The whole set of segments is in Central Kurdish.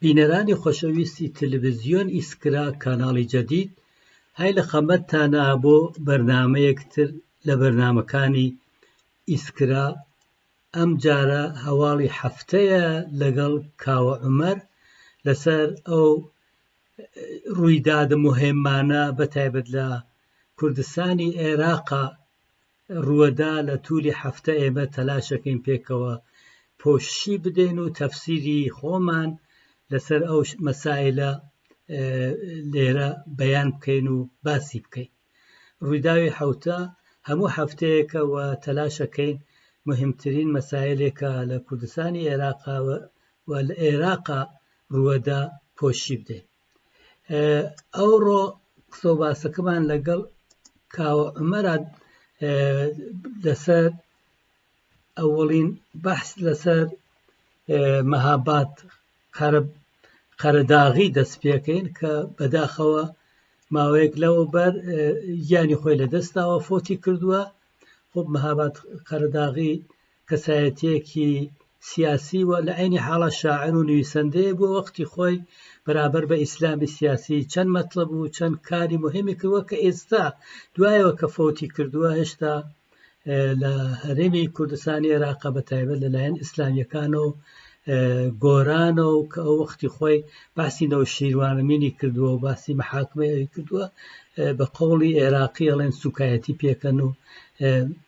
بینەرانی خۆشەویستی تلویزیۆن ئیسکرا کاناڵی جەدید هەی لە خەمەتتانا بۆ بەرنامەیەک تر لە بەرنامەکانی ئیسکرا ئەم جارە هەواڵی هەفتەیە لەگەڵ کاوە عومەر لەسەر ئەو ڕوویدادە مهمانە بە تایبەت لە کوردستانی عێراقا رووەدا لە توولی هەفتە ئێمە تەلاشەکەین پێکەوە پۆششی بدەین و تەفسیری خۆمان لەسەر ئەو مەسایلە لێرە بەیان بکەین و باسی بکەین ڕووداوی حوتە هەموو هەفتەیەکە و تەلاشەکەین مهمترین مەسایلێکە لە کوردستانی عێراقا و لە عێراقا ڕووەدا پۆشی بدەین ئەوڕۆ قسە و باسەکەمان لەگەڵ کاوە عمەرا لەسەر ئەوڵین بەحس لەسەر مەهابات قەرەداغی دەست پێکەین کە بەداخەوە ماوەیەک لەوە بەر گیانی خۆی لە دەستاوە فۆتی کردووە خۆب مەهابات قەرەداغی کەسایەتیەکی سیاسی و لە عینی حاڵا شاعر و نویسەندەیە بۆ وەختی خۆی بەرابەر بە ئیسلامی سیاسی چەند مەتڵب و چەند کاری مهمی کردوە کە ئێستا دوایەوە کە فۆتی کردووە هێشتا لە هەرێمی کوردستانی عێراقا بە تایبەت لەلایەن ئیسلامیەکان و گۆرانە و کە ئەو وەختی خۆی باسی نەوە شیروانەمینی کردووە و باسی محاکمەیەوی کردووە بە قوڵی عێراقی ئەڵێن سوکایەتی پێکەن و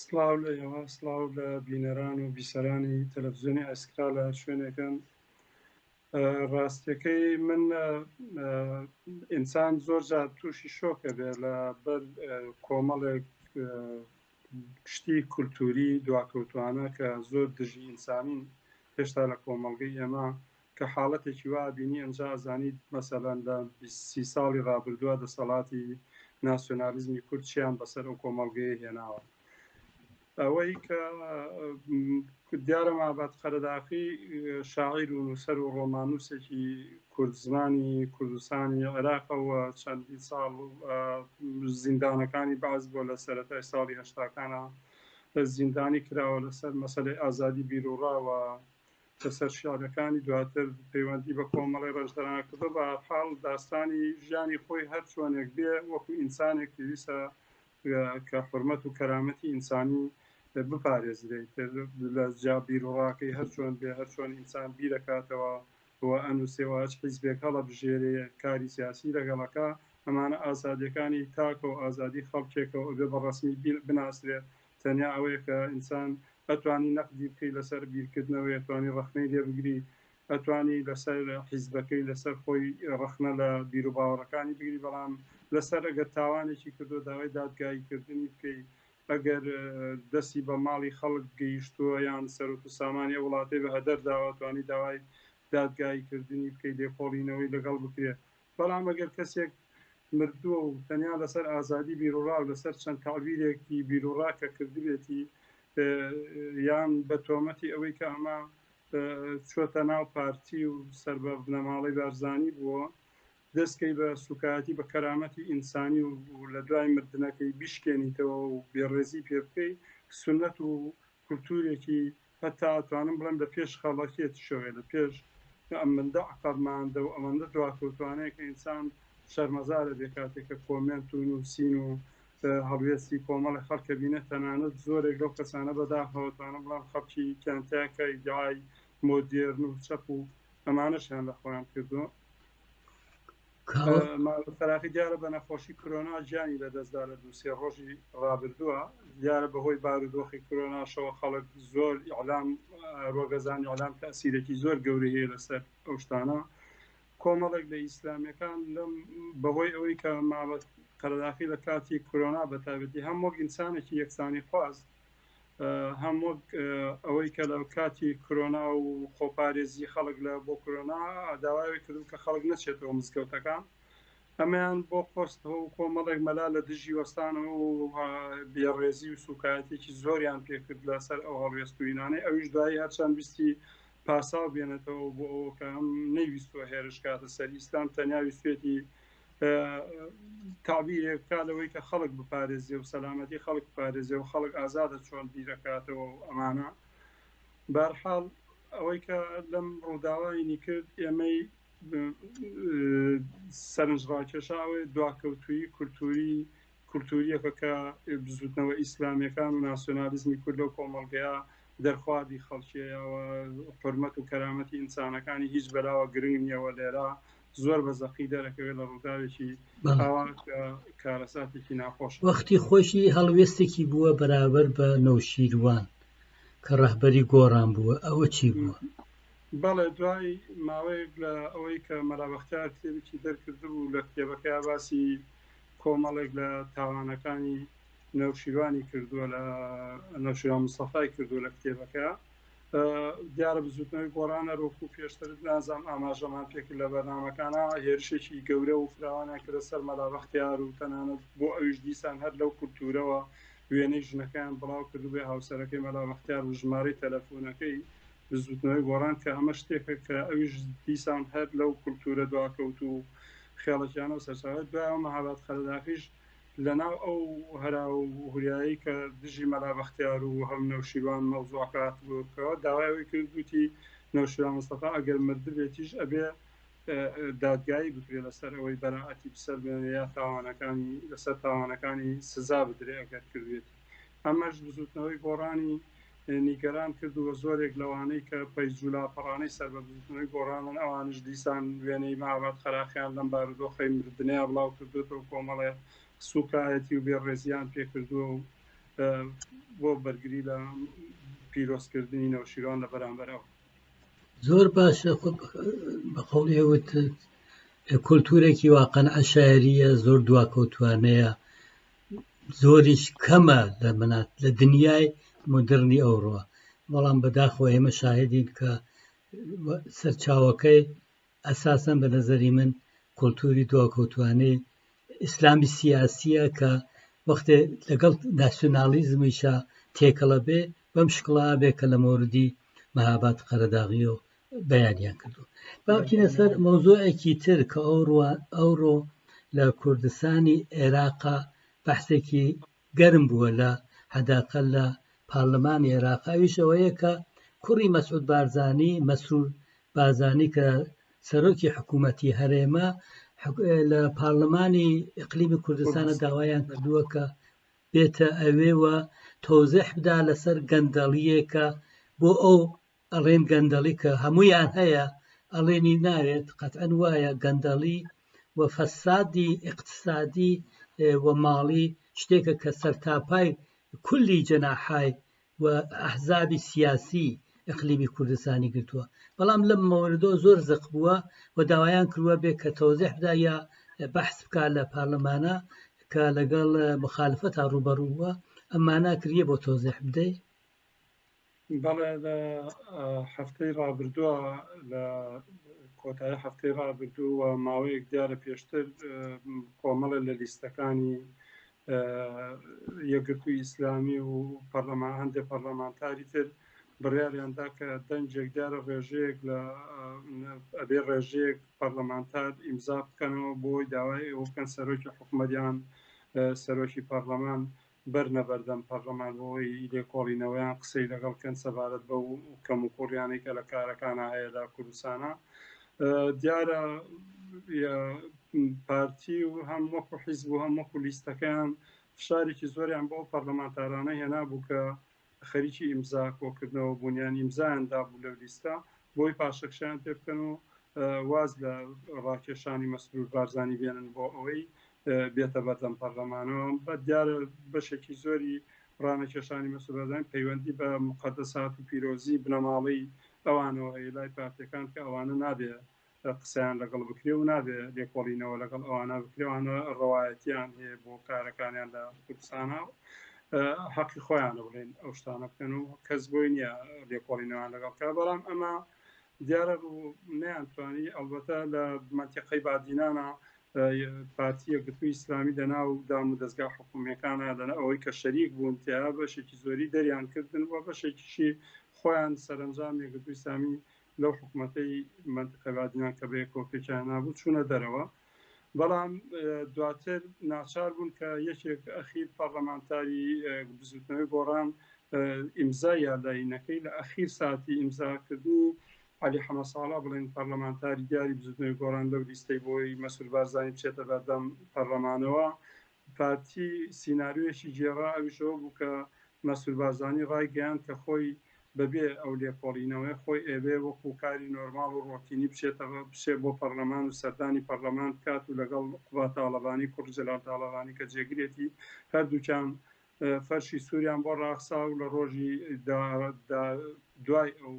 سڵاو لە ئێوە سڵاو لە بینەران و بیسەرانی تەلەڤزیۆنی ئەسکرا لە هەر شوێنێکن ڕاستیەکەی من ئینسان زۆر جار تووشی شۆکە بێ لە بەر کۆمەڵێک شتی کولتوری دواکەوتوانە کە زۆر دژی ئینسانین هێشتا لە کۆمەڵگەی ئێمە کە حاڵەتێکی وا ئەبینی ئەنجا ئەزانیت مەسەلەن لە بیست سی ساڵی ڕابردووە دەسەڵاتی ناسیۆنالیزمی کورد چیان بەسەر ئەو کۆمەڵگەیە هێناوە ئەوەی کە دیارە مابات قەرەداخی شاعیر و نووسەر و ڕۆمانوسێکی کوردزمانی کوردستانی عێراقەوە چەندین ساڵ زیندانەکانی باز بۆ لە سەرەتای ساڵی هەشتاکانە زیندانی کراوە لەسەر مەسلەی ئازادی بیرروڕاوە لەسەر شیعرەکانی دواتر پەیوەندی بە کۆمەڵی ڕێژدەران کردو بە هەرحاڵ داستانی ژیانی خۆی هەر چۆنێک بێ وەکو ئینسانێک پێویستە کە حرمەت و کەرامەتی ئینسانی بپارێزرێت لە جا بیروڕاکەی هەر چۆن بێ هەر چۆن ئینسان بیرەکاتەوە و ئەنووسێ و هەچ حیزبێک هەڵە بژێرێ کاری سیاسی لەگەڵەکە ئەمانە ئازادیەکانی تاکە و ئازادی خەڵکێکەوە بێ بە ڕسمی بناسرێت تەنیا ئەوەیە کە ئینسان ئەتوانی نەقدی بکەی لەسەر بیرکردنەوەی ئەتوانی ڕەخنەی لێ بگری ئەتوانی لەسەر حیزبەکەی لەسەر خۆی ڕەخنە لە بیروباوەڕەکانی بگری بەڵام لەسەر ئەگەر تاوانێکی کردوە داوای دادگایی کردنی بکەی ئەگەر دەسی بە ماڵی خەڵک گەیشتووە یان سەروت و سامانی ئەو وڵاتەی بە هەدەر داوە توانی داوای دادگایی کردنی بکەی لێکۆڵینەوەی لەگەڵ بکرێ بەڵام ئەگەر کەسێک مردووە و تەنیا لەسەر ئازادی بیروڕا و لەسەر چەند تەعبیرێکی بیروڕا کە کردبێتی یان بە تۆمەتی ئەوەی کە ئەمە چۆتە ناو پارتی و سەر بە بنەماڵەی بارزانی بووە دەستکەی بە سوکایەتی بە کەرامەتی ئینسانی و لە دوای مردنەکەی بیشکێنیتەوە و بێڕێزی پێ بکەی سنت و کولتورێکی هەتا ئەتوانم بڵێم لە پێش خەڵەکێ تشۆێ لە پێش ئەمندە عەقەب ماندە و ئەمەندە دواکەوتوانەیە کە ئینسان شەرمەزار ئەبێ کاتێ کە کۆمێنت و نووسین و هەڵوێستی کۆمەڵێ خەڵک ئەبینێ تەنانەت زۆرێک لەو کەسانە بەداخەوە توانم بڵێم خەڵکی کانتەیان کە ئیدعای مۆدێرن و چەپ و ئەمانەشیان لە خۆیان کردووە. فراقی دیارە بە نەخۆشی کرۆنا گیانی لەدەستدا لە دووسێ ڕۆژی ڕابردووە دیارە بەهۆی بارودۆخی کرۆناشەوە خەڵک زۆر ئیعلام ڕۆگەزانی ئەلام تاسیرێکی زۆر گەورەی هەیە لەسەر ئەو شتانە کۆمەڵێک لە ئیسلامیەکان لەم بەهۆی ئەوەی کە مابەت قەرداخی لە کاتی کرۆنا بەتابەتی هەم وەک ئینسانێکی یەکسانی خواست هەم وەک ئەوەی کە لە کاتی کرۆنا و خۆپارێزی خەڵک لە بۆ کرۆنا داوای کردو کە خەڵک نەچێتەوە مزگەوتەکان ئەمەیان بۆ خۆستەوە و کۆمەڵێک مەلا لە دژی وەستانەوە و بێڕێزی و سوکایەتێکی زۆریان پێکرد لەسەر ئەو هەڵوێستوینانەی ئەویش دوایی هەرچەند ویستی پاساو بێنێتەوە بۆ ئەوەکەم نەیویستوە هێرشکاتە سەر ئیسلام تەنیا ویستێتی تابیرێک بکات لەوەی کە خەڵک بپارێزێ و سەلامەتی خەڵک بپارێزێ و خەڵک ئازادە چۆن بیرەکاتەوە و ئەمانە بارحاڵ ئەوەی کە لەم ڕووداوانی کرد ئێمەی سەرنج ڕاکێشاوێ دواکەوتوی کولتوری کولتوورییەکە کە بزووتنەوە ئیسلامییەکان و ناسیۆنالیزمی کورد لەو کۆمەڵگەیە دەرخواردی خەڵکیەیە و حرمەت و کەرامەتی ئینسانەکانی هیچ بەلاوە گرنگ نییە و لێرە زۆر بە زەقی دەرەکەوێت لە ڕووداوێکی ئاوا کارەساتێکی ناخۆش وەختی خۆشی هەڵوێستێکی بووە بەرابەر بە نەوشیروان کە ڕەهبەری گۆڕان بووە ئەوە چی بووە؟ بەڵێ دوای ماوەیەک لە ئەوەی کە مەرابختار کتێبێکی دەرکردبوو لە کتێبەکە باسی کۆمەڵێک لە تاوانەکانی نەوشیروانی کردووە لە نەوشیروان مستەفای کردووە لە کتێبەکە دیارە بزوتنەوەی گۆڕانە ڕۆکو پێشتر نازام ئاماژەمان پێکرد لە بەرنمەکانە هێرشێکی گەورە و فراوانیان کردە سەر مەلابەختیار و تەنانەت بۆ ئەویش دیسان هەر لەو کولتورەوە وێنەی ژنەکەیان بڵاو کردو بێ هاوسەرەکەی مەلابەختیار و ژمارەی تەلەفۆنەکەی بزووتنەوەی گۆڕان کە ئەمە شتێکە کە ئەویش دیسان هەر لەو کولتوورە دواکەوت و خێڵەکیانە و سەرچاوێت دوای ئەو مەهاباد قەرەداخیش لە ناو ئەو هەرا و هوریایی کە دژی مەلا بەختیار و هەم نەوشیروان مەوزوعەکە هاتبووکەوە داوایەوەی کردوتی نەوشیروان مستەفا ئەگەر مردبێتیش ئەبێ دادگایی بکرێت لەسەر ئەوەی بەراعەتی بسەر بێنێ یا تاوانەکانی لەسەر تاوانەکانی سزا بدرێ ئەگەر کردێتی ئەمەش بزوتنەوەی گۆڕانی نیگەران کرد و زۆرێک لەوانەی کە پەیج و لاپەڕانەی سەر بە بزووتنەوەی گۆڕانن، ئەوانیش دیسان وێنەی مەهاباد قەراخیان لەم بارودۆخەی مردنەیا بڵاو کردووەتەوە و کۆمەڵێ سووکایەتی و بێڕێزییان پێ کردووە و بۆ بەرگری لە پیرۆزکردنی نەوشیروان لە بەرامبەر ئەو زۆر باشە بە قوڵێ وتت کولتورێکی واقعەن عشاعریە زۆر دواکەوتوانەیە زۆریش کەمە لە منات لە دنیای مدررنی ئەوڕۆ بەڵام بەداخۆ ئێمە شاهدین کە سەرچاوەکەی ئەساسن بە نەزەری من کولتوری دواکەوتوانەی ئیسلامی سیاسیە کە وەختێ لەگەڵ ناسیۆنالیزمیشە تێکەڵە بێ بەم شکڵا بێ کە لە مۆردی مەهابات قەرەداغی و بەیانیان کردو باکیە سەر مۆزۆەکی تر کە ئەوڕە ئەوڕۆ لە کوردستانی عێراقا بەحسێکی گەرم بووە لە حداقە لە پارلەمانی عێراقاویشەوەیە کە کوڕی مەسعود بارزانانی مەسرور بازانی کە سەرۆکی حکوومەتی هەرێمە لە پارلەمانی ئەقلیمی کوردستانە داوایان کردووە کە بێتە ئەوێوە تۆزح بدا لەسەر گەندەڵیەکە بۆ ئەو ئەڵێن گەندەڵی کە هەمویان هەیە ئەڵێنی ناوێت قەتەن وایە گەندەڵی و فەسادی اقتصادی و ماڵی شتێکە کە سەرتاپای کولی جەناحای و ئەحزابی سیاسی ئەقلیمی کوردستانی گرتووە بەڵام لەم مەوردۆ زۆر زەق بووە و داوایان کردوە بێ کە تۆزیحدا یا بەحس بکات لە پارلەمانە کە لەگەڵ مخالفە تا ڕوبەڕووە ئەمانە کریە بۆ تۆزیح بدەیت بەڵێ لە هەفتەی ڕابردووە لە کۆتایی هەفتەی ڕابردوو و ماوەیەک دیارە پێشتر کۆمەڵە لە لیستەکانی یەکگرتووی ئیسلامی و پەرلەمان هەندێک پەرلەمانتاری تر بڕیاریاندا کە دەنجێک دیارە ڕێژەیەک لە ئەبێ ڕێژەیەک پەرلەمانتار ئیمزا بکەنەوە بۆی داوای ئەوکەن سەرۆکی حکومەریان سەرۆکی پەرلەمان بەرنە بەردەم پەرلەمان بۆوەی لێکۆڵینەوەیان قسەی لەگەڵ کەن سەبارەت بەو کەموکوڕیانەی کە لە کارەکانا هەیە لە کوردستانا دیارە پارتی و هەم وەکو حیزب و هەم وەکو لیستەکەیان فشارێکی زۆریان بۆ پەرلەمانتارانە هێنا بوو کە خەریکی ئیمزا کۆکردنەوە بوون یان ئیمزایان دابوو لەو لیستە بۆی پاشەکشەیان پێ بکەن و واز لە ڕاکێشانی مەسرور بارزانی بێنن بۆ ئەوەی بێتە بەردەم پەرلەمانەوە بە دیارە بەشێکی زۆری ڕانەکێشانی مەسرورزان پەیوەندی بە مقدسات و پیرۆزی بنەماڵەی ئەوانەوە هەیە لای پارتەکان کە ئەوانە نابێ قسەیان لەگەڵ بکرێ و نابێ لێکۆڵینەوە لەگەڵ ئەوانە بکرێ ئەوانە ڕەوایەتیان هەیە بۆ کارەکانیان لە کوردستانە و حەقی خۆیانە بڵێن ئەو شتانە بکەن و کەس بۆی نییە لێکۆڵینەوەیان لەگەڵ کا بەڵام ئەمە دیارە ڕوو نیانتوانی ئەڵبەتە لە منتیقەی بادینانە پارتی یەکگرتووی ئیسلامی لە ناو دام و دەستگا حکومیەکانە لەە ئەوەی کە شەریک بوون تیا بەشێکی زۆری دەریان کردن و بەشێکیشی خۆیان سەرنجام یەکگرتووی ئیسلامی لەو حکومەتەی مەنتقەی بادینان کە بەیەکەوە پێکیان هێنابوو چوونە دەرەوە، بەڵام دواتر ناچار بوون کە یەکێک ئەخیر پەڕلەمانتاری بزووتنەوەی گۆڕان ئیمزای یارلاینەکەی لە ئەخیر ساتی ئیمزاکردنی عەلی حەمەساڵح بڵێن پەڕلەمانتاری دیاری بزووتنەوەی گۆڕان لەو لیستەی بۆی مەسرور بارزانی بچێتە بەردەم پەڕلەمانەوە پارتی سیناریۆیەکی گێڕا، ئەویش ئەوە بوو کە مەسرور بارزانی ڕایگەیاند کە خۆی بەبێ ئەو لێکۆڵینەوەیە خۆی ئەیەوێ وەکوو کاری نۆرماڵ و ڕۆتینی بچێتە بچێ بۆ پەڕڵەمان و سەردانی پەڕڵەمان بکات و لەگەڵ قوباد تاڵەبانی کوڕی جەلال تاڵەبانی کە جێگرێتی هەردووکیان فەرشی سووریان بۆ ڕاخسا و لە ڕۆژی دا دا دوای ئەو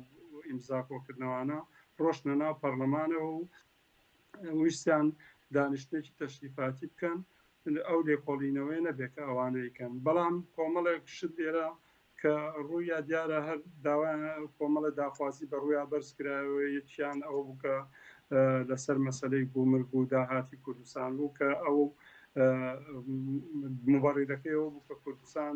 ئیمزا کۆکردنەوانە ڕۆشتنە ناو پەڕڵەمانەوە و ویستیان دانیشتێکی تەشریفاتی بکەن ئەو لێکۆڵینەوەی نەبێت کە ئەوانەیکەن بەڵام کۆمەڵێک شت لێرە کە ڕوویا دیارە هەر داوا کۆمەڵە داخوازی بە ڕوویا بەرزکراوە یەکیان ئەو بکە لەسەر مەسلەی گومرگ و داهاتی کوردستان بوو کە ئەو مبڕیدەکەی ئەو بوو کە کوردستان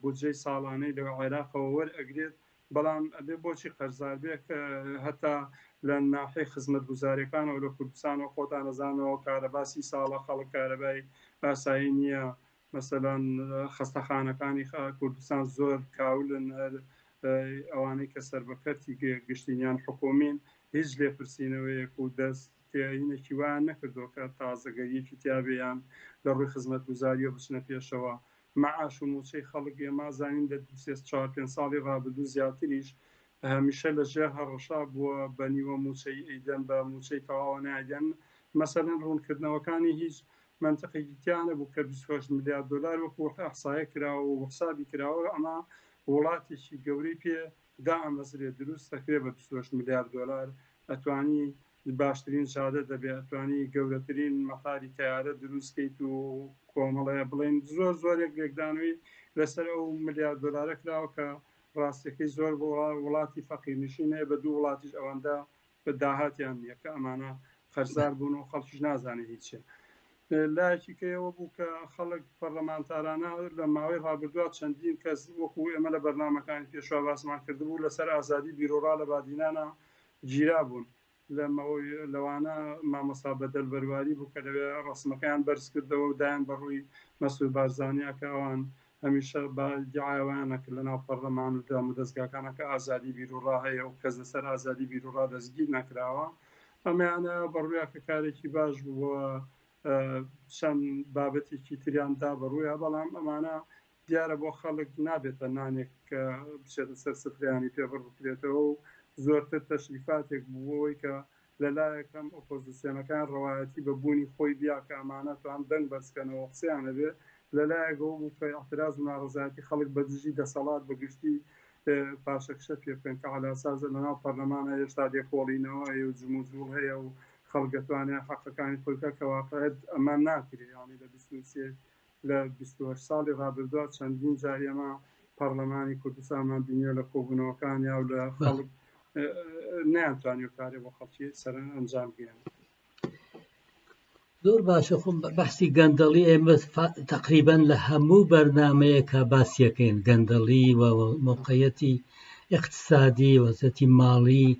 بودجەی ساڵانەی لە عێراقەوە وەرئەگرێت، بەڵام ئەبێ بۆچی قەرزاربێ کە هەتا لە ناحیەی خزمەتگوزاریەکانەوە لە کوردستانەوە خۆتان ئەزاننەوە کارەبا سی ساڵە خەڵک کارەبای ئاسایی نیە، مەسەلەن خەستەخانەکانی کوردستان زۆر کاولن هەر ئەوانەی کە سەر بە کەرتی گشتین یان حکومین هیچ لێپرسینەوەیەک و دەست تێینێکی وایان نەکردووە کە تازەگەریەکی تیابێ یان لە ڕووی خزمەتگوزاریەوە بچنە پێشەوە مەعاش و مووچەی خەڵک ئێمە زانین لە دوو سێ چوار پێنج ساڵی ڕابردوو زیاتریش هەمیشە لە ژێر هەڕەشە بووە بە نیوە مووچەی ئەیدەن بە مووچەی تەواوە نایدەن مەسەلەن ڕوونکردنەوەکانی هیچ مەنتقێکی تیا نەبوو کە بیست و هەشت ملیار دۆلار وەکوو ئەحسایە کراوە و حسابی کراوە ئەمە وڵاتێکی گەورەی پێ دائەمەزرێ دروست ئەکرێ بە بیست و هەشت ملیار دۆلار ئەتوانی باشترین شادە دەبێ ئەتوانی گەورەترین مەتاری تەیارە دروست کەیت و کۆمەڵێ بڵێن زۆر زۆرێک لێکدانەوەی لەسەر ئەو ملیار دۆلارە کراوە کە ڕاستەکەی زۆر وڵاتی فەقیر نشین هەیە بە دوو وڵاتیش ئەوەندە بە داهاتیان نییە کە ئەمانە قەرزار بوون و خەڵکیش نازانێ هیچە لایەکی کەەوە بوو کە خەڵک پەرلەمانتارانە لە ماوەی ڕابردووە چەندین کەس وەکو ئێمە لە بەرنمەکانی پێشوا باسمان کردبوو لەسەر ئازادی بیرۆڕا لە بادینانە گیرابوون، لەوانە مامۆستا بەدەل بەرواری بوو کە لەوێ ڕەسمەکەیان بەرزکردەوە و دایان بە ڕووی مەسرور بارزانیا کە ئەوان هەمیشە بە ئیدیعای ئەوەیان ئەکرد لە ناو پەڕلەمان و دامودەزگاکانا کە ئازادی بیروڕا هەیە و کەس لەسەر ئازادی بیروڕا دەستگیر نەکراوە ئەمەیان ئەوێ بە ڕوویا کە کارێکی باش بوو و چەند بابەتێکی تریان دا بە ڕوویا بەڵام ئەمانە دیارە بۆ خەڵک نابێتە نانێک کە بچێتە سەر سفرەیانی پێ بڕ بکرێتەوە و زۆرتر تەشریفاتێک بوو بۆ ئەوەی کە لە لایەک هەم ئۆپۆزسیۆنەکان ڕەوایەتی بە بوونی خۆی بیا کە ئەمانە تا هەم دەنگ بەرز کەنەوە و قسەیان هەبێ لە لایەک ئەوە بوو کە ئیعتراز و ناڕەزایەتی خەڵک بە دژی دەسەڵات بە گشتی پاشەکشە پێ بکەن کە عەلاسازە لە ناو پەرلەمانە هێشتا لێکۆڵینەوە هەیە و جموجوڵ هەیە و خەڵک دەتوانێ حەقەکانی خۆی بکا کە واقعیت ئەمە ناکرێ یانی لە بیست و سێ لە بیست و هەشت ساڵی ڕابردووا چەندین جار ئێمە پەڕلەمانی کوردستانمان بینیوە لە کۆبوونەوەکانیا و لە خەڵک نەیانتوانیوە کارێ بۆ خەڵکی سەر ئەنجام بگەیان. زۆر باشە خۆم بەحسی گەندەڵی ئێمە تقریبان لە هەموو بەرنمەیەکە باسیەکەین گەندەڵی و موقعەتی اقتصادی وەزەتی ماڵی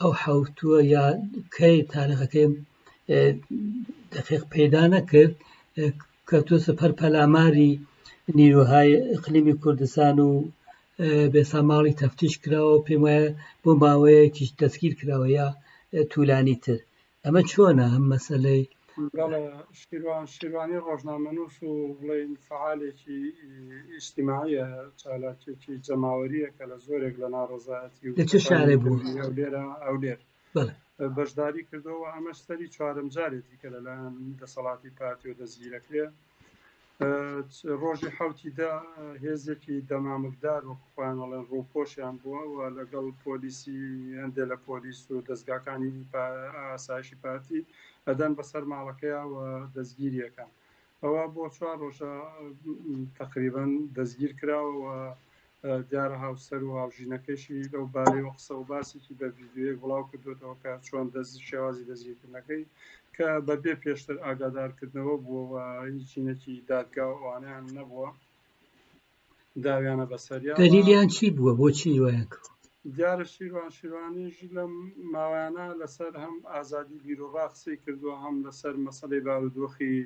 ئەو حوتووە یا کەی تارەخەکەی دەقیق پەیدا نەکرد کە تۆ سەپەر پەلاماری نیروهای اقلیمی کوردستان و بێساماڵی تەفتیش کراوە پێم وایە بۆ ماوەیەکیش دەستگیر کراوە یا تولانی تر ئەمە چۆنە ئەم مەسلەی شیروانی ڕۆژنامەنووس و بڵین فعالێکی ئیشتیماعە چالاکێکی جەماوەریە کە لە زۆرێک لە ناڕزایەتی و چ شارێ بوو ئەو لێرە ئەو لێر بەشداری کردەوە ئەمەش سەری چوارم جارێتی کە لەلایەن دەسەڵاتی پارتی و دەستگیرەکرێ ڕۆژی حوتی دا هێزێکی دەمامکدار وەکو خۆیان ئەڵێن ڕووپۆشیان بووە و لەگەڵ پۆلیسی هەندێک لە پۆلیس و دەستگاکانی ئاسایشی پارتی ئەدەن بەسەر ماڵەکەیە و دەستگیریەکان ئەوە بۆ چوار ڕۆژە تقریبان دەستگیر کراوە و دیارە هاوسەر و هاوژینەکەیشی لەو بارەیەوە قسە و باسێکی بە ڤیدیۆیەک بڵاو کردوێتەوە کە چۆن دەست شێوازی دەستگیرکردنەکەی کە بەبێ پێشتر ئاگادارکردنەوە بووەوە هیچ چینێکی دادگا و ئەوانیان نەبووە داویانە بەسەریا دەلیلیان چی بووە بۆ چیروایان کرد دیارە شیروان شیروانیش لەم ماوەیانە لەسەر هەم ئازادی بیرۆبا قسەی کردووە هەم لەسەر مەسلەی بارودۆخی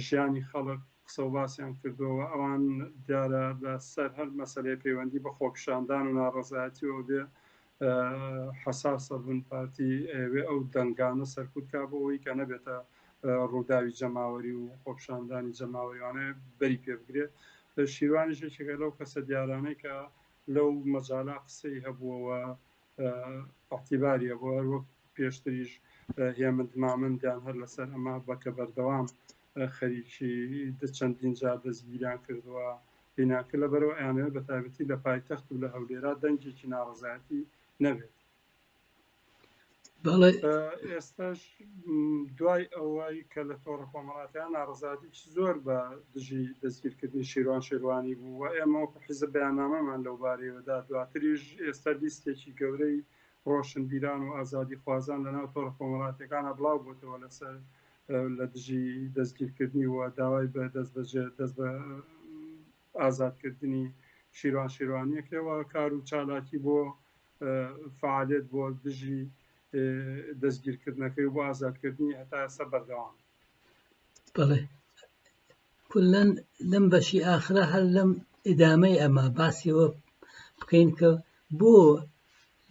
ژیانی خەڵک قسە و باسیان کردووە و ئەوان دیارە لە سەر هەر مەسەلەیە پەیوەندی بە خۆپیشاندان و ناڕەزایەتیەوە بێ حەساس ئەبن، پارتی ئەیەوێ ئەو دەنگانە سەرکوت کا بۆ ئەوەی کە نەبێتە ڕووداوی جەماوەری و خۆپیشاندانی جەماوەری وانە بەری پێ بگرێت. شیروانیش یەکێکە لەو کەسە دیارانەی کە لەو مەجالا قسەی هەبووەوە ئیعتیباری هەبوو، هەر وەک پێشتریش هێمن مامەندیان هەر لەسەر ئەمە بە کە بەردەوام خەریکی دە چەندین جار دەستگیریان کردووە بینان کرد لە بەرەوە ئەیانەوێت بە تایبەتی لە پایتەخت و لە هەولێرا دەنگێکی ناڕەزایەتی نەبێت بەڵێ ئێستاش دوای ئەوەی کە لە تۆڕە کۆمەڵاتییانە ناڕەزایەتیی زۆر بە دژی دەستگیرکردنی شیروان شێروانی بوو و ئێمە وەکو حیزب بەیاننامەمان لەو بارەیەوە دا، دواتریش ئێستا لیستێکی گەورەی ڕۆشنبیران و ئازادیخوازان لە ناو تۆڕە کۆمەڵاتییەکانا بڵاو بۆتەوە لەسەر لە دژی دەستگیرکردنی و داوای بە دەستبەجێ دەست بە ئازادکردنی شیروان شێروانییەکەوە کار و چالاکی بۆ فەعالییەت بۆ دژی دەستگیرکردنەکەی و بۆ ئازادکردنی هەتا ئێستا بەردەوام بەڵێ کلەن لەم بەشی ئاخرا هەر لەم ئیدامەی ئەمە باسیەوە بکەین کە بۆ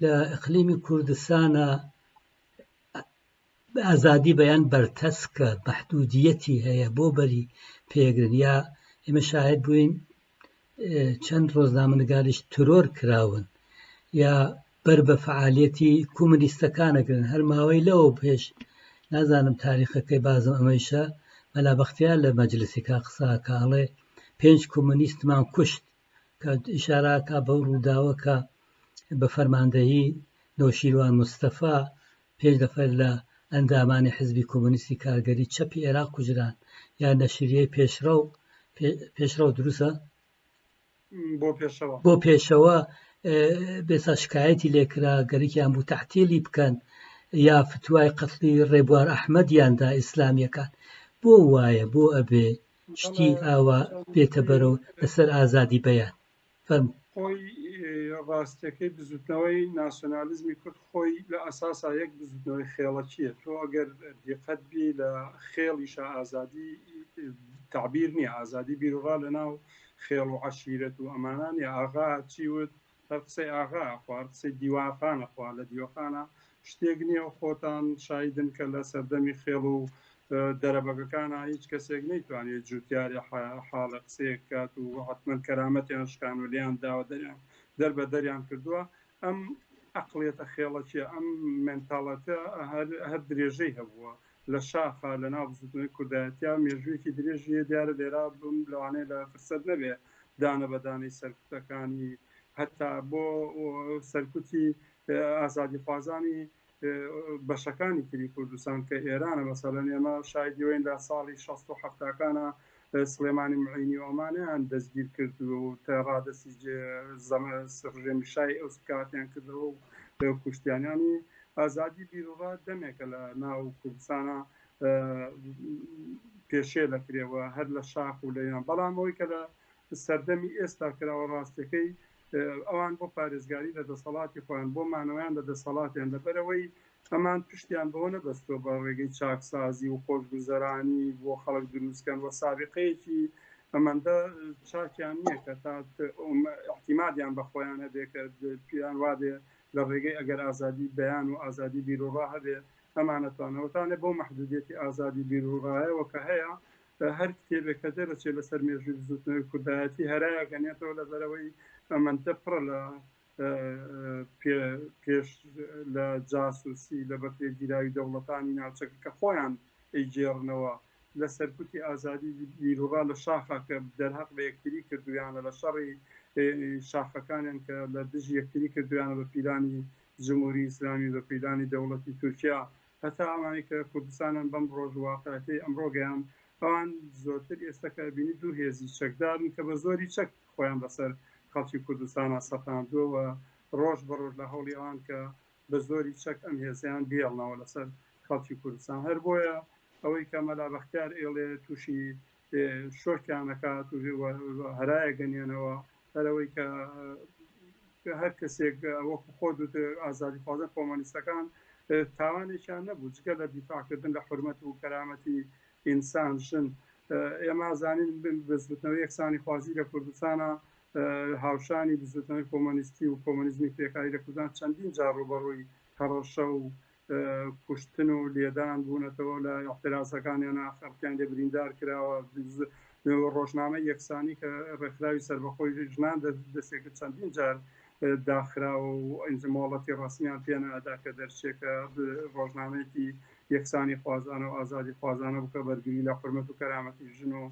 لە ئەقلیمی کوردستانە ئازادی بەیان بەرتەسکە بەحدودیەتی هەیە بۆ بەری پێگرن یا ئێمە شاهد بووین چەند ڕۆژنامەنگاریش ترۆر کراون یا بەر بە فعالیەتی کومنیستەکانەگرن هەر ماوەی لەوە پێش نازانم تاریخەکەی بازم ئەمەیشە مەلا بەختیار لە مەجلسیکا قساکەڵێ پێنج کۆمونیستمان کوشت کە ئشاراکە بەو ڕووداوەکە بە فەرماندەهی نۆشیروان مستەفا پێنج نەفەر لە ئەندامانی حزبی کۆمۆنیستی کارگەری چەپی عێراق کوژران یان نەشریەی پێشڕەو پێشڕەو دروسە بۆ پێشەوە بێسا شکایەتی لێکرا گەرەکیان بوو تەحتێلی بکەن یا فتوای قەتلی ڕێبوار ئەحمەدیاندا ئیسلامیەکان بۆ وایە بۆ ئەبێ شتی ئاوا بێتە بەرەو لەسەر ئازادی بەیان فەرموو. خۆی ڕاستیەکەی بزوتنەوەی ناسیۆنالیزمی کورد خۆی لە ئەساسا یەک بزوتنەوەی خێڵەکیە تۆ ئەگەر دیقەت بی لە خێڵیشە ئازادی تعبیر نییە ئازادی بیرڕا لە ناو خێڵ و عشیرەت و ئەمانانی ئاغا چیوت هەر قسەی ئاغا خوار قسەی دیوانخانە خوا لە دیوەخانە شتێک نیە و خۆتان شاهیدن کە لە سەردەمی خێڵ و دەرەبەگەکانا هیچ کەسێک نەیتوانێت جوتیاری حاڵە قسەیەک بکات و حتمەن کەرامەتیان شکان و لێیان داوە دەریان دەربە دەریان کردووە ئەم ئەقلێتە خێڵەکیە ئەم مێنتاڵەتە هەر درێژەی هەبووە لە شاخە لە ناو بزوتنەوەی کوردایەتیا مێژوویەکی درێژیە دیارە لێرا بم لەوانەیە لە فرسەت نەبێ دانە بەدانەی سەرکوتەکانی هەتا بۆ سەرکوتی ئازادیخوازانی بەشەکانی تری کوردستان کە ئێرانە مەسەلەن ئێمە شایدی وین لە ساڵی 16 و هەفتاکانە سلێمانی معینی ئۆمانیان دەستگیر کرد و تا ڕادەسی ڕژێمی شای ئەو سکاتیان کردەوە و کوشتیانیانی ئازادی بیرڕا دەمێکە لە ناو کوردستانە پێشێ دەکرێەوە هەر لە شاخ و لەیان بەڵام ئەوی کە لە سەردەمی ئێستا کراوە ڕاستەکەی ئەوان بۆ پارێزگاری لە دەسەڵاتی خۆیان بۆ مانەوەیان لە دەسەڵاتیان لەبەرئەوەی ئەمان پشتیان بەوە نەبەستوە بە ڕێگەی چاکسازی و خۆشگوزەرانی بۆ خەڵک دروست کەن و سابیقەیەکی ئەمەندە چاکیان نیە کە تا ئیحتیمادیان بە خۆیان هەبێ کە پێیان وابێ لە ڕێگەی ئەگەر ئازادی بەیان و ئازادی بیروڕا هەبێ ئەمانەتوانەوەتانێ بەو مەحدودیەتی ئازادی بیروڕایەوە کە هەیە هەر کتێبێک کە دەرەچێت لەسەر مێژووی بزوتنەوەی کوردایەتی هەرایە گەنێتەوە لەبەرەوەی ئەمەندە پڕە لە پێش لە جاسوسی لە بەکرێ گیراوی دەوڵەتانی ناوچەکە کە خۆیان ئەیگێڕنەوە لە سەرکوتی ئازادی بیرڕا لە شاخە کە دەرهەق بە یەکتری کردویانە لە شەڕی شاخەکانیان کە لە دژ یەکتری کردویانە بە پیلانی جمهوری ئیسلامی بە پیلانی دەوڵەتی تورکیا هەتا ئەوانەی کە کوردستانن بەم ڕۆژ و واقعیەتەی ئەمڕۆ گەیان، ئەوان زۆرتر ئێستە کە بینی دوو هێزی چەکدارن کە بە زۆری چەک خۆیان بەسەر خەڵکی کوردستانا سەپاندووە و ڕۆژ بە ڕۆژ لە هەوڵی ئەوان کە بە زۆری چەک ئەم هێزەیان بهێڵنەوە لەسەر خەڵکی کوردستان هەر بۆیە ئەوەی کە مەلا بەختیار ئێڵێ تووشی شۆکیان ئەکات و هەرای ئەگەنێنەوە هەر ئەوەی کە هەر کەسێک وەکو خۆ دوت ئازادی خوازە کۆمەنیستەکان تاوانێکیان نەبوو جگە لە دیفاعکردن لە حرمەت و کەرامەتی ئینسان ژن ئێمە زانین بزوتنەوە یەکسانی خوازی لە کوردستانە هاوشانی بزوتنەوەی کۆمەنیستی و کۆمەنیزمی کرێکاری لە کوردستان چەندین جار ڕوبەڕووی هەڕەشە و کوشتن و لێدان بوونەتەوە لە ئیعترازەکانیان نا خەڵکیان لێ بریندار کراوە ڕۆژنامە یەکسانی کە ڕێکخراوی سەربەخۆی ژنان دەستێکە چەندین جار داخراوە و ئەنج مۆڵەتی ڕسمیان پێنادا کە دەرچێکە ڕۆژنامەیەکی یەکسانی خوازانە و ئازادی خوازانە بکە بەرگری لە حرمەت و کەرامەتی ژن و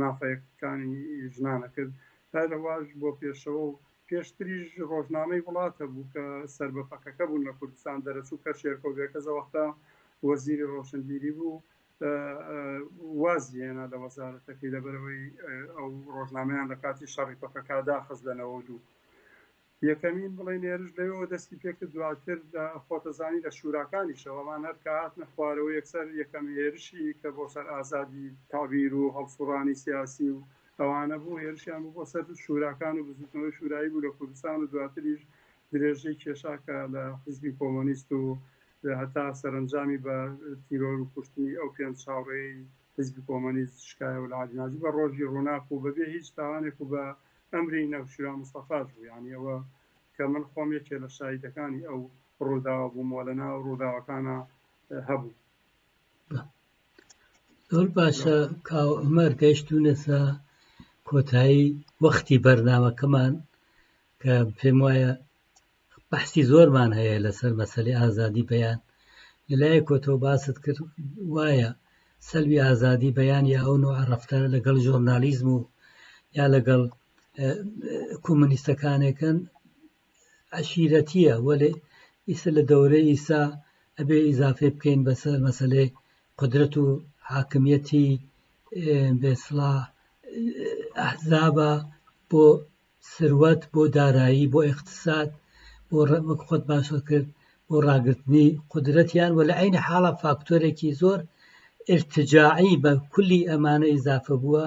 مافەکانی ژنانە کرد هەرواش بۆ پێشەوە و پێشتریش ڕۆژنامەی وڵات هەبوو کە سەر بە پەکەکە بوون لە کوردستان دەرەچوو، کە شێرکۆ گەرکەز ئەوەختە وەزیری ڕۆشنبیری بوو وازی هێنا لە وەزارەتەکەی لەبەرئەوەی ئەو ڕۆژنامەیان لە کاتی شەڕی پەکەکا داخست لە نەوەد و دوو. یەکەمین بڵێن هێرش لەوێوە دەستی پێکرد، دواتر خۆتەزانی لە شوراکانیشەوە ئەمان هەر کە هاتنە خوارەوە یەکسەر یەکەم هێرشی کە بۆ سەر ئازادی تەعبیر و هەڵسوڕانی سیاسی و ئەوانە بوو هێرشیان بوو بۆ سەر شوراکان و بزوتنەوەی شورایی بوو لە کوردستان و دواتریش درێژەی کێشا کە لە حیزبی کۆمۆنیست و هەتا سەرەنجامی بە تیرۆر و کوشتنی ئەو پێنج چاوڕێی حیزبی کۆمۆنیست شکایە و لە عەلی ناجی بە ڕۆژی ڕووناک و بەبێ هیچ تاوانێک و بە ئەمری نەوشیروان مستەفاش بوو یانی ئەوە کە من خۆم یەکێ لە شاهیدەکانی ئەو ڕووداوە بووم و لەناو ڕووداوەکانە هەبوو. زۆر باشە کاو عمر گەیشتونەسە کۆتایی وەختی بەرنمەکەمان کە پێم وایە بەحسی زۆرمان هەیە لەسەر مەسلی ئازادی بەیان لەلایە کۆتەوە باست کرد وایە سەلوی ئازادی بەیان یا ئەو نوع ڕفتار لەگەڵ ژۆرنالیزم و یا لەگەڵ کۆمنیستەکانێکن عەشیرەتیە وەلێ ئیسە لە دەورەی ئیسا ئەبێ ئیزافەی بکەین بەسەر مەسەلەی قودرەت و حاکمیەتی بێسڵا ئەحزابە بۆ سروەت بۆ دارایی بۆ ئیقتصاد بۆ ڕەمک خۆت باشە کرد بۆ ڕاگررتنی قدرەتیان وە لە عین حاڵە فاکتۆرێکی زۆر ارتجاعی بە کولی ئەمانە ئیزافە بووە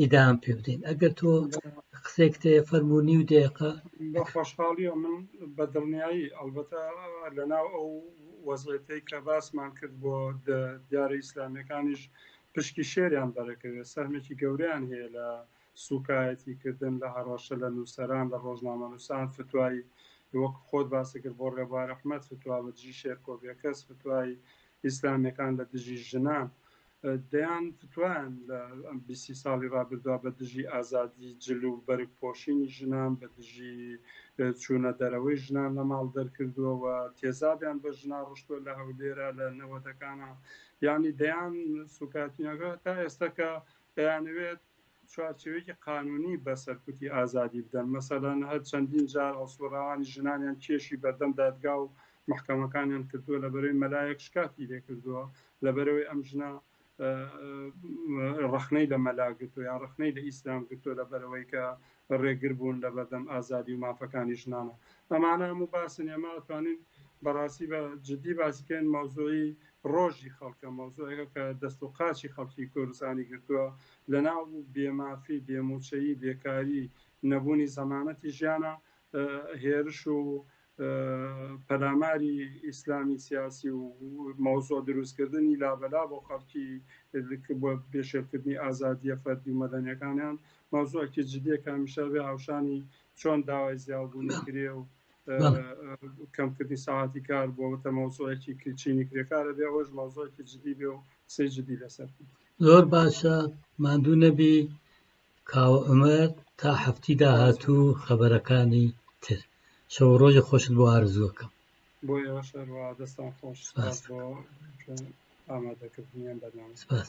ئیدام پێ بدەین ئەگەر تۆ قسێک تێ فەرمو نی و دێقە خۆشحاڵیە من بە دڵنیایی ئەلبەتە لە ناو ئەو وەزێتەی کە باسمان کرد بۆ دیارە ئیسلامیەکانیش پشکی شێریان بەرەکەوێت سەرمێکی گەوریان هەیە لە سوکایەتی کردن لە هەڕەشە لە نووسەران لە ڕۆژنامە نووسان فتوایی وەک خۆت باسی کرد بۆ ڕێبوار رححمت فتووا بە دژی شێرکۆبیەکەس فتوای ئیسلامیەکان لە دژی ژنان دەیان فتوایان لە بیسی ساڵی ڕابردووا بە دژی ئازادی جل و بەرگ پۆشینی ژنان بە دژی چوونە دەرەوەی ژنان لە ماڵ دەرکردووەوە تێزابیان بە ژنا ڕشتووە لە هەولێرە لە نەوەتەکانە یانی دەیان سوکاتینەکە تا ئێستاکە دەیانەوێت چوارچێوەیەکی قانونی بە سەرکوتی ئازادی بدەن، مەسەلەن هەر چەندین جار هەڵسوڕاوانی ژنانیان کێشی بەردەم دادگا و مەحکەمەکانیان کردووە، لەبەرەوەی مەلایەک شکاتی لێ کردووە، لەبەرەوەی ئەم ژنە ڕەخنەی لە مەلا گرتووە یان ڕەخنەی لە ئیسلام گرتووە لەبەرەوەی کە ڕێگر بوون لە بەردەم ئازادی و مافەکانی ژنانە. ئەمانە هەموو باسن، ئێمە ئەتوانین بەڕاستی بە جدی باسی بکەین، مەوزوعی ڕۆژی خەڵکە، مەوزوعێکە کە دەست و قاچی خەڵکی کوردستانی گرتووە، لەناو بوو، بێ مافی، بێ مووچەیی، بێکاری، نەبوونی زەمانەتی ژیانە، هێرش و پەلاماری ئیسلامی سیاسی و مەوزوع دروستکردنی لابەلا بۆ خەڵکی بۆ پێشێلکردنی ئازادیە فەردی و مەدەنیەکانیان مەوزوعکی جدیە کە هەمیشە بێ هاوشانی چۆن داوای زیاوبوونی کرێ و کەمکردنی ساعتی کار بۆ تە مەوزوعێکی کچینی کرێکارە بێ ئەوەش مەوزوعکی جدی بێ و قسەی جدی لەسەر بێ زۆر باشە ماندوو نەبی کاوە عمر تا هەفتی داهاتوو خەبەرەکانی تر شەو ڕۆژی خۆشت بۆ ئارزوەکەم بۆ ئێوەشەروا دەستان خۆش بۆ ئامادەکردنیان بەنامە سپاس